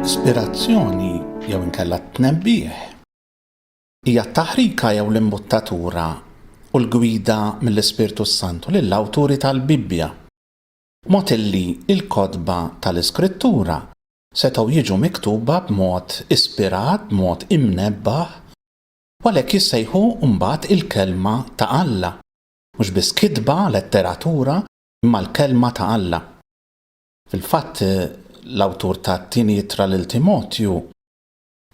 L-ispirazzjoni jew inkella t-tnebbih hija t-taħrika jew l-imbuttatura u l-gwida mill-Ispirtu s-Santu lill-awturi tal-Bibbja. Mod illi l-kotba tal-Iskrittura setgħu jiġu miktuba b'mod ispirat, b'mod imnebbaħ, u għalhekk jissejħu mbagħad il-Kelma ta' Alla, mhux biss kitba, letteratura, imma l-Kelma ta' Alla. Fil-fatt, l-awtur tat-Tieni Ittra lil Timotju,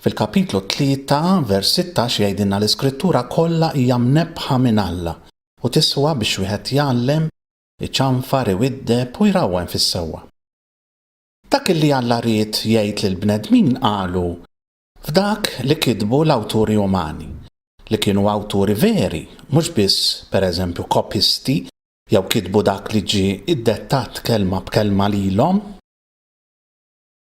fil-kapitlu tlieta, vers sittax, jgħidilna l-Iskrittura kollha hija mnebbħa minn Alla u tiswa biex wieħed jgħallem, Iċanfar, iwiddeb u jrawwem fis-sewwa. Dak illi Alla ried jgħid lill-bnedmin qalu f'dak li kitbu l-awturi umani, li kienu awturi veri, mhux biss, per eżempju, kopjisti jew kitbu dak li ġie iddettat kelma b'kelma lilhom.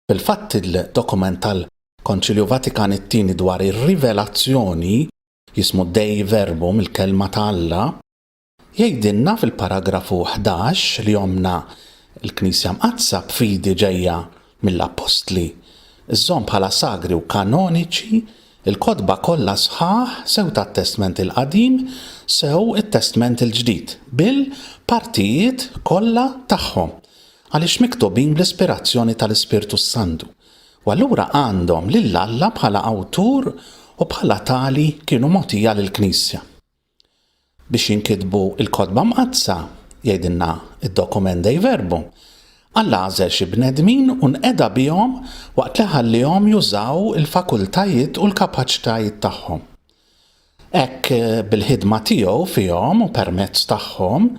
Fil-fatt, il-dokument tal-Konċilju Vatikan it-Tieni dwar ir-Rivelazzjoni, jismu Dei Verbum, il-Kelma ta' Alla, Jgħidilna fil-paragrafu 11 li ommna l-Knisja Mqaddsa b'fidi ġejja mill-Appostli żżomm bħala sagri u kanoniċi l-kotba kollha sħaħ sew tat-Testment il-Qadim sew it-Testment il-Ġdid bil-partijiet kollha tagħhom għaliex miktubin bl-ispirazzjoni tal-Ispirtu s-Santu u allura għandhom lil Alla bħala Awtur u bħala tali kienu mogħtija lill-Knisja. Biex jinkitbu l-Kotba Mqaddsa, jgħidilna d-dokument Dei Verbum, Alla għażel xi bnedmin u nqeda bihom waqt li ħalliehom jużaw il-fakultajiet u l-kapaċitajiet tagħhom. Hekk, bil-ħidma tiegħu fihom u permezz tagħhom,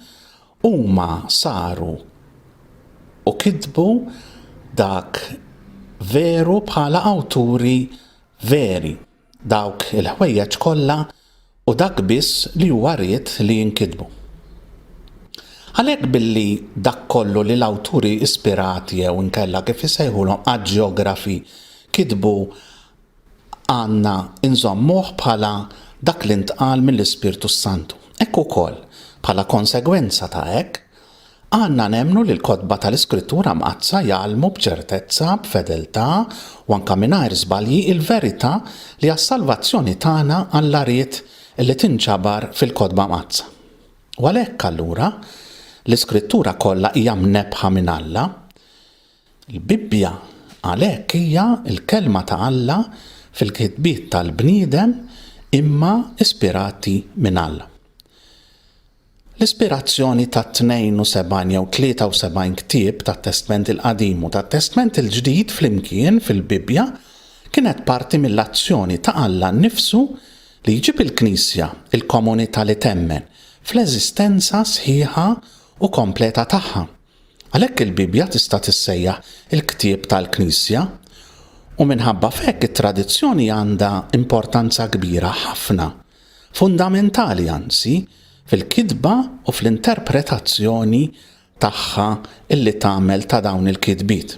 huma saru u kitbu dak veru bħala awturi veri. Dawk il-ħwejjeġ kollha u dak biss li huwa ried li jinkitbu. Għalhekk billi dak kollu li l-awturi ispirati jew inkella kif isejħulhom aġjografi kitbu għandna nżommuh bħala dak li ntqal mill-Ispirtu s-Santu. Hekk ukoll, bħala konsegwenza ta' hekk, Għandna nemmnu li l-kotba tal-Iskrittura Mqaddsa jgħallmu b'ċertezza, b'fedeltà, u anke mingħajr żbalji, il-verità li għas-salvazzjoni tagħna Alla ried li tinġabar fil-Kotba Mqaddsa. U għalhekk, allura, l-Iskrittura kollha hija mnebbħa minn Alla. Il-Bibbja, għalhekk, hija l-Kelma ta' Alla fil-kitbiet tal-bniedem imma ispirati minn Alla. L-ispirazzjoni tat-72 jew 73 ktieb tat-Testment il-Qadim u tat-Testment il-Ġdid flimkien fil-Bibbja kienet parti mill-azzjoni ta' Alla nnifsu li jġib il-Knisja, il-komunità li temmen, fl-eżistenza sħiħa u kompleta tagħha. Għalhekk il-Bibbja tista' tissejjaħ il-ktieb tal-Knisja, u minħabba f'hekk it-tradizzjoni għandha importanza kbira ħafna fundamentali anzi fil-kitba u fl-interpretazzjoni tagħha li tagħmel ta' dawn il-kitbiet.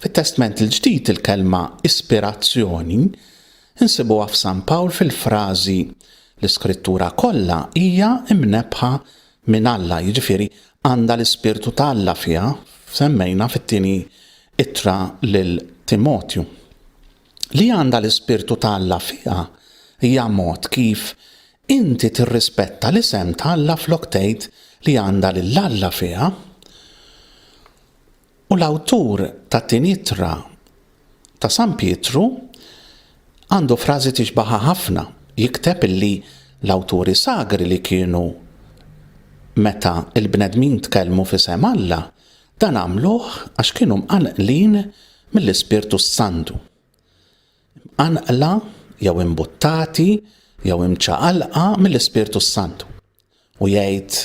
Fit-Testment il-Ġdid il-kelma ispirazzjoni nsibuha f'San Pawl fil-frażi l-Iskrittura kollha hija mnebbħa minn Alla, jiġifieri għandha l-Ispirtu ta' Alla fiha, semmejna fit-tieni ittra lil Timotju. li għandha l-ispirtu ta' Alla fiha hija mod kif inti tirrispetta l-isem ta' Alla flok tgħid li għandha lil Alla fiha. U l-awtur tat-tieni ittra ta' San Pietru għandu frażi tixbaħha ħafna, jikteb illi l-awturi sagri li kienu meta l-bnedmin tkellmu f'isem Alla Dan għamluh għax kienu mqanqlin mill-Ispirtu s-Santu. Mqanqla jew imbuttati jew imċaqalqa mill-Ispirtu s-Santu. U jgħid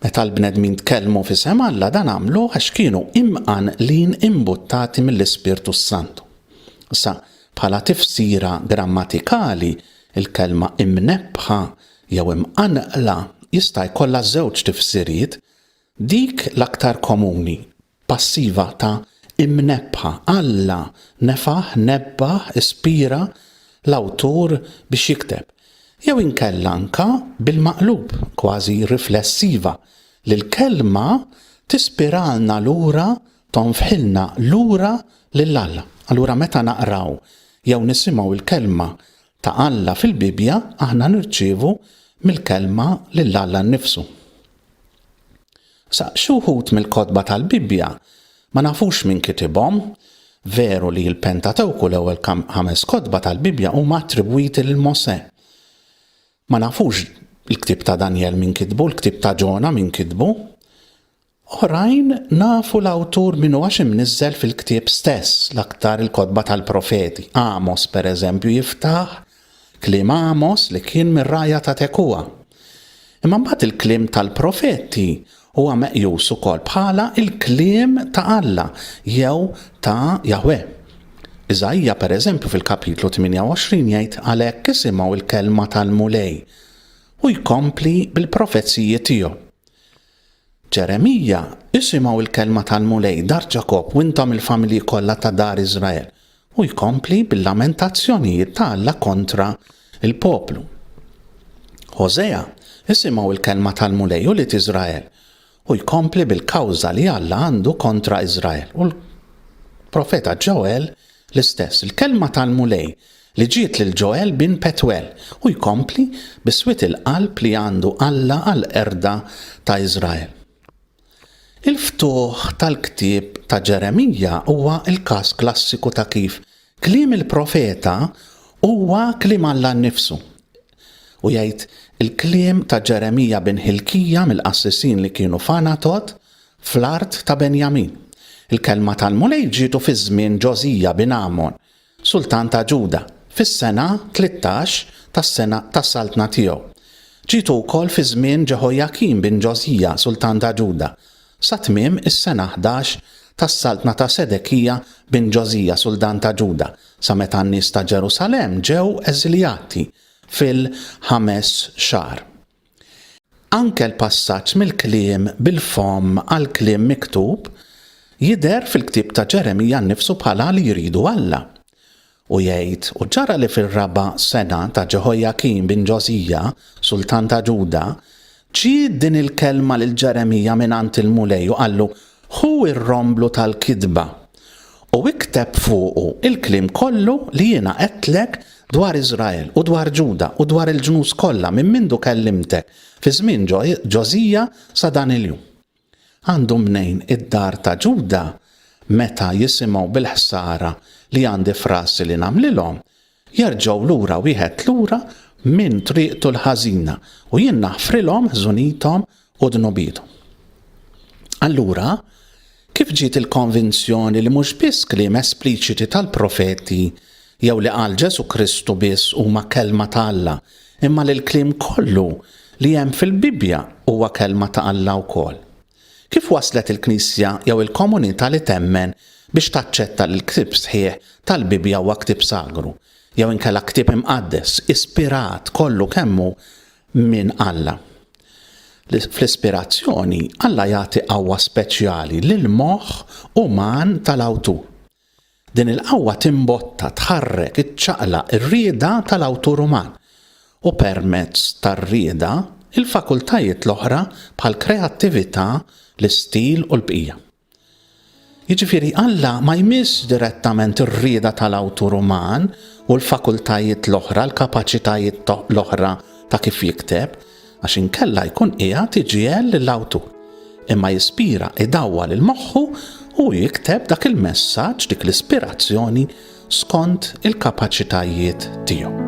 meta l-bnedmin tkellmu fi sem Alla dan għamluh għax kienu imqanqlin imbuttati mill-Ispirtu s-Santu. Sa bħala tifsira grammatikali il-kelma imnebbħa jew imqanqla jista' jkollha żewġ tifsiriet Dik l-aktar komuni, passiva ta' imnebbħa, Alla nefaħ, nebbaħ, ispira l-awtur biex jikteb, jew inkella anke bil-maqlub, kważi riflessiva, li l-kelma tispiralna lura, tonfħilna lura lil Alla. Allura meta naqraw jew nisimgħu l-kelma ta' Alla fil-Bibbja aħna nirċievu mill-Kelma lil Alla nnifsu. Sa xi wħud mill-kotba tal-Bibbja ma nafux min kitibhom, veru li l-Pentatewku l-ewwel ħames kotba tal-Bibbja huma attribwiti lil Mosè. Ma nafux il-ktieb ta' Danjel min kitbu, il-ktieb ta' Ġona min kitbu, Oħrajn nafu l-awtur min hu għax imniżżel fil-ktieb stess, l-aktar il-kotba tal-profeti. Għamos, per eżempju, jiftaħ kliem Għamos li kien mir-rgħajja ta' Tekoa. Imma mbagħad il-kliem tal-profeti huwa meqjus ukoll bħala l-kliem ta' Alla jew ta' Jahwe. Iżaija, per eżempju, fil-kapitlu 28 jgħid għalhekk isimgħu l-kelma tal-Mulej u jkompli bil-profeziji tiegħu. Ġeremija, isimgħu l-kelma tal-Mulej, dar Ġakobb, u intom il-familji kollha ta' dar Iżrael. U jkompli bil-lamentazzjonijiet ta' Alla kontra l-poplu. Ħożea, isimgħu l-kelma tal-Mulej, ulied Iżrael, u jkompli bil-kawża li Alla għandu kontra Iżrael. U l-profeta Ġoel l-istess, il-kelma tal-Mulej li ġiet lil Joel bin Petwel, u jkompli bis-swied il-qalb li għandu Alla għall-qerda ta' Iżrael. Il-ftuħ tal-ktieb ta' Ġeremija huwa l-każ klassiku ta' kif kliem il-profeta huwa kliem Alla nnifsu. U jgħid, Il-kliem ta' Ġeremija bin Ħilkija mill-qassisin li kienu f'Għanatot, fl-art ta' Benjamin. Il-kelma tal-Mulej ġietu fi żmien Ġożija bin Għamon, sultan ta' Ġuda, fis-sena tlittax tas-sena tas-saltna tiegħu. Ġietu wkoll fi żmien Ġeħojakim bin Ġożija, sultan ta' Ġuda, sa tmiem is-sena ħdax tas-saltna ta' Sedekija bin Ġożija, sultan ta' Ġuda, sa meta n-nies ta' Ġerusalemm ġew eżiljati fil-ħames xahar. Anke l-passaġġ mill-kliem bil-fomm għall-kliem miktub jidher fil-ktieb ta' Ġeremija nnifsu bħala li jridu Alla. U jgħid, U ġara li fir-raba' sena ta' Ġeħojakin bin Ġożija, sultan ta' Ġuda, ġiet din il-kelma lil Ġeremija mingħand il-Mulej u qallu, Ħu r-romblu tal-kitba u ikteb fuqu l-kliem kollu li jiena għedtlek dwar Iżrael u dwar Ġuda u dwar il-ġnus kollha minn mindu kellimtek fi żmien Ġożija sa dan il-jum. Għandu mnejn id-dar ta' Ġuda meta jisimgħu bil-ħsara li għandi f'rasi li nagħmlilhom, Jerġgħu lura wieħed lura minn triqtu l-ħażina, u jien naħfrilhom ħżunithom u dnubiethom. Allura, kif ġiet il-konvinzjoni li mhux biss kliem espliċiti tal-profeti jew li qal Ġesù Kristu biss huma Kelma ta' Alla, imma li l-kliem kollu li hemm fil-Bibbja huwa Kelma ta' Alla wkoll? Kif waslet il-Knisja jew il-komunità li temmen biex taċċetta li l-ktieb sħiħ tal-Bibbja huwa ktieb sagru, jew inkella ktieb imqaddes, ispirat kollu kemm hu minn Alla? Fl-ispirazzjoni, Alla jagħti qawwa speċjali lill-moħħ uman tal-awtur. Din il-qawwa timbotta, tħarrek, iċċaqlaq ir-rieda tal-awtur uman, u permezz tar-rieda, il-fakultajiet l-oħra bħall-kreattività, l-istil u l-bqija. Jiġifieri Alla ma jmissx direttament ir-rieda tal-awtur uman u l-fakultajiet l-oħra, l-kapaċitajiet l-oħra ta' kif jikteb, għax inkella jkun qiegħed iġiegħel lill-awtur, imma jispira idawwal il-moħħu u jikteb dak il-messaġġ, dik l-ispirazzjoni skont il-kapaċitajiet tiegħu.